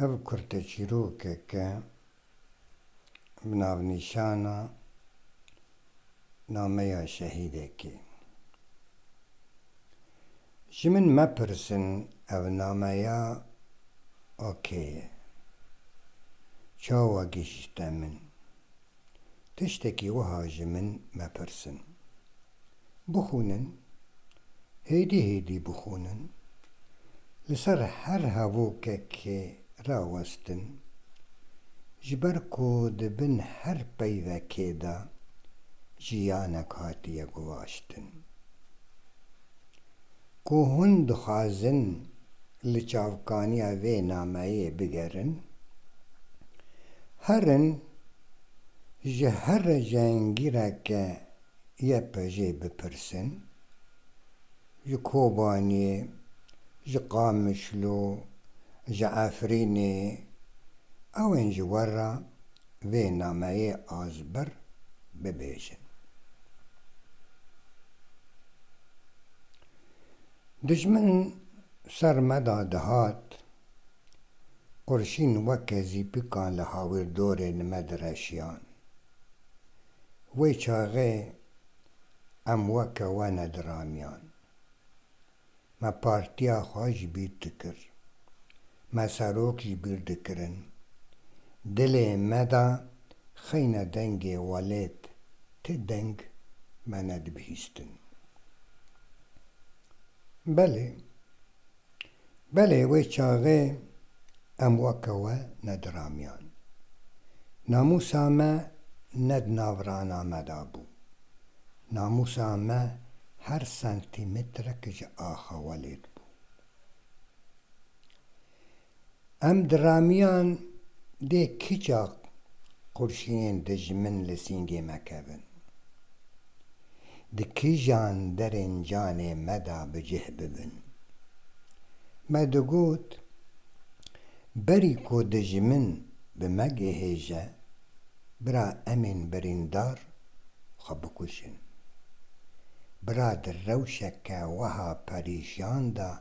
Ev kurteçîrokek e bi navnîşana Nameya Şehîdekê. Ji min mepirsin ev nameya a kê ye? Çawa gihîşte min? Tiştekî wiha ji min mepirsin. Bixwînin, hêdî hêdî bixwînin, li ser her hevokekê rawestin, ji ber ku di bin her peyvekê de jiyanek hatiye guvaştin. Ku hûn dixwazin li çavkaniya vê nameyê bigerin, herin ji here cihengîreke YPJ'ê bipirsin, ji Kobaniyê, ji Qamişlo, ji Efrînê, ew ên ji we re vê nameyê azbir bibêjin. Dijmin ser me de dihat, qurşîn weke zîpikan li hawirdorên me direşiyan. Wê çaxê em weke we nediramiyan. Me partiya xwe ji bîr dikir. Me serok ji bîr dikirin. Dilê me de xeyne dengê welêt ti deng me nedibihîstin. Belê. Belê wê çaxê em weke we nediramiyan. Namûsa me ne di nav rana me de bû. Namûsa me her sentîmetrek ji axa we lêt bû. Em di ramiyan dê kiça qurşînên dijmin li sîngê me kevin. Di kijan derên canê me de bi cih bibin. Me digot, berî ku dijmin bi me gihêje, Bira em ên birîndar xwe bikuşin. Bira di rewşeke weha perîşan de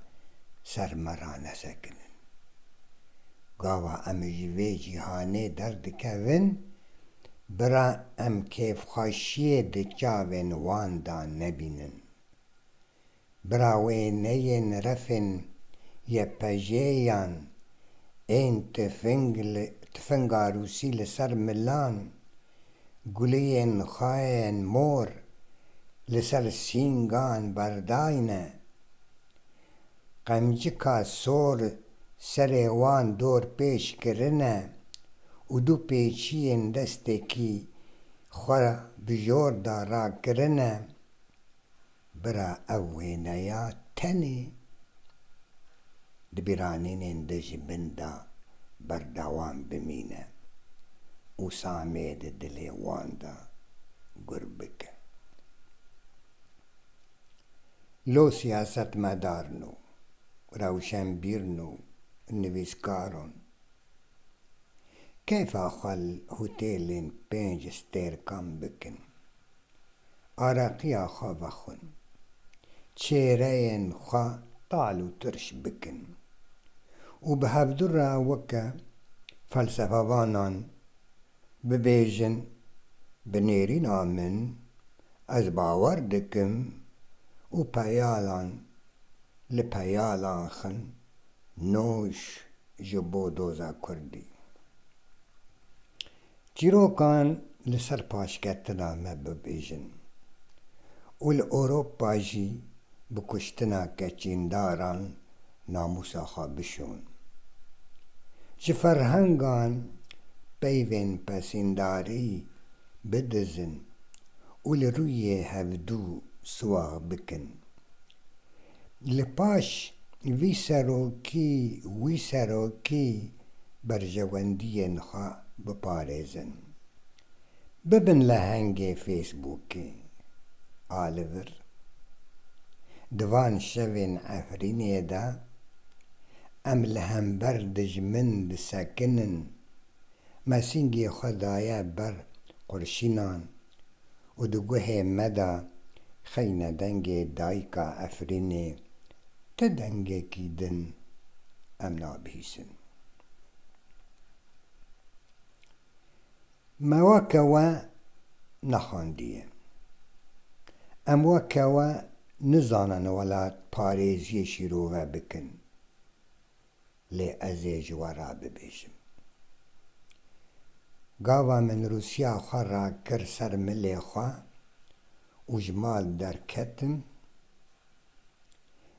ser me ranesekinin. Gava em ji vê cîhanê derdikevin, bira em kêfxweşiyê di çavên wan de nebînin. Birawêneyên refên YPJ'yan ên tifinga rûsî li ser milan, guliyên xayên mor li ser sîngan berdayne, qemcika sor serê wan dorpêç kirine û du pêçiyên destekî xwe bi jor de rakirine. Bira ev wêneya tenê di bîranînên de ji bin de berdewam bimîne û Samê di dilê wan de gur bike. Lo siyasetmedarn û rewşenbîrn û nivîskaron keyfa xwe li hotêlên pênc stêrkan bikin. Areqiya xwe vexwin. Çêreyên xwe tal û tirş bikin. Û bi hevdu re weke felsefevanan bibêjin, Bi nêrîna min ez bawer dikim û peyalan li peyalan xin nûş ji bo doza kurdî. Çîrokan li ser paşketina me bibêjin û li Ewropa jî bi kuştina keçîndaran namûsa xwe bişon. Ji ferhengan peyvên pesîndarî bidizin û li rûyê hevdû siwax bikin. Li paş vî serokî wî serokî berjewendiyên xwe biparêzin. Bibin lehengê Fêsbûkê. A li vir di van şevên Efrînê de em li hember dijmin disekinin, me singê xwe daye ber qurşînan û di guhê me de xeyne dengê dayika Efrînê ti dengekî din em nabihîsin. Me weke we nexandiye. Em weke we nizanin welatparêziyê şîrove bikin. lê ez ê ji we re bibêjim. Gava min rûsiya xwe rakir ser milê xwe û ji mal derketim.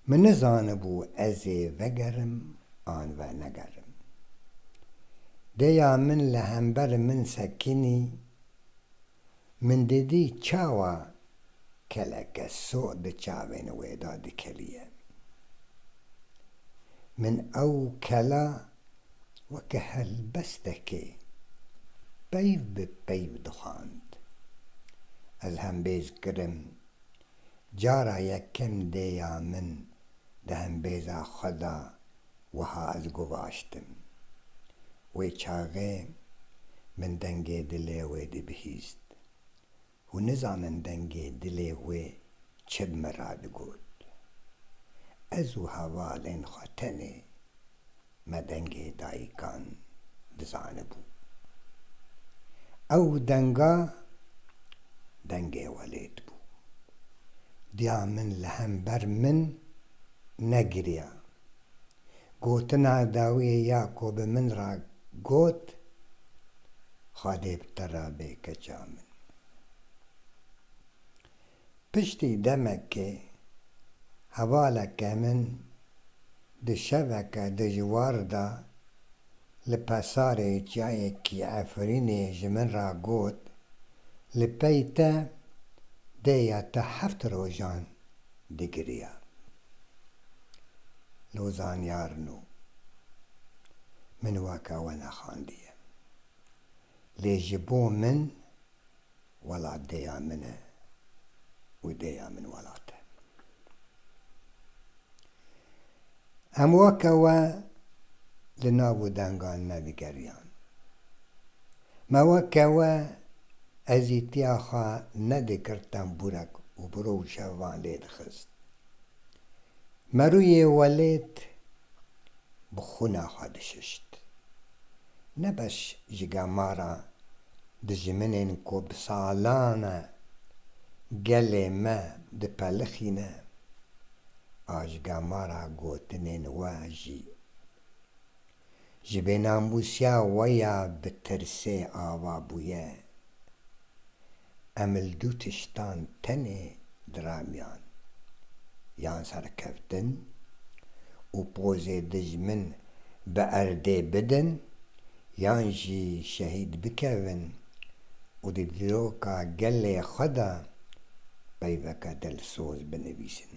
Min nizanibû ez ê vegerim an venegerim. Dêya min li hember min sekinî. Min didî çawa keleke so di çavên wê de dikeliye. Min ew kela weke helbestekê peyv bi peyv dixwand. Ez hembêz kirim. Cara yekem dêya min di hembêza xwe de wiha ez guvaştim, Wê çaxê min dengê dilê wê dibihîst. Hûn nizanin dengê dilê wê çi bi min re digot. Ez û hevalên xwe tenê me dengê dayikan dizanibû. Ew denga dengê welêt bû. Diya min li hember min negiriya. Gotina dawiyê ya ku bi min re got, Xwedê bi te re bê keça min. Piştî demekê hevaleke min di şeveke dijwar de, Li Pesarê çiyayekî Efrînê ji min re got, Li pey te dê ya te heft rojan digiriya. Lo zanyar no. Min weke we nexandiye. Lê ji bo min Welat dêya min e û dêya min welat e. Em weke we li nav û dengan me vigeriyan. Me weke we ezîtiya xwe nedikir tembûrek û bi ro û şev van lê dixist. Merûyê welêt bi xwûna xwe dişişt. ne beş ji gemara dijminên ku bi salan e gelê me dipelixîne a ji gemara gotinên we jî ji vênambûsiya we ya bi tirsê ava bûye Em li du tiştan tenê diramiyan, yan serkeftin û pozê dijmin bi erdê bidin yan jî şehîd bikevin û di dîroka gelê xwe de peyveke dilsoz binivîsin.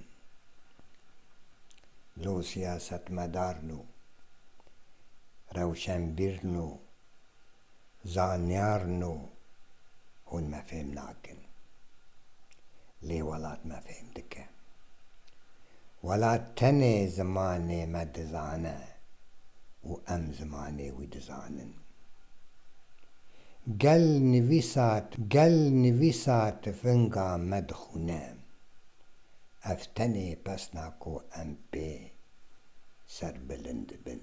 Lo siyasetmedarn û rewşenbîrn û. Zanyar no hûn me fêm nakin. Lê welat me fêm dike. Welat tenê zimanê me dizane û em zimanê wî dizanin. Gel nivîsa gel nivîsa tifinga me dixûne. Ev tenê pesna ku em pê serbilind dibin.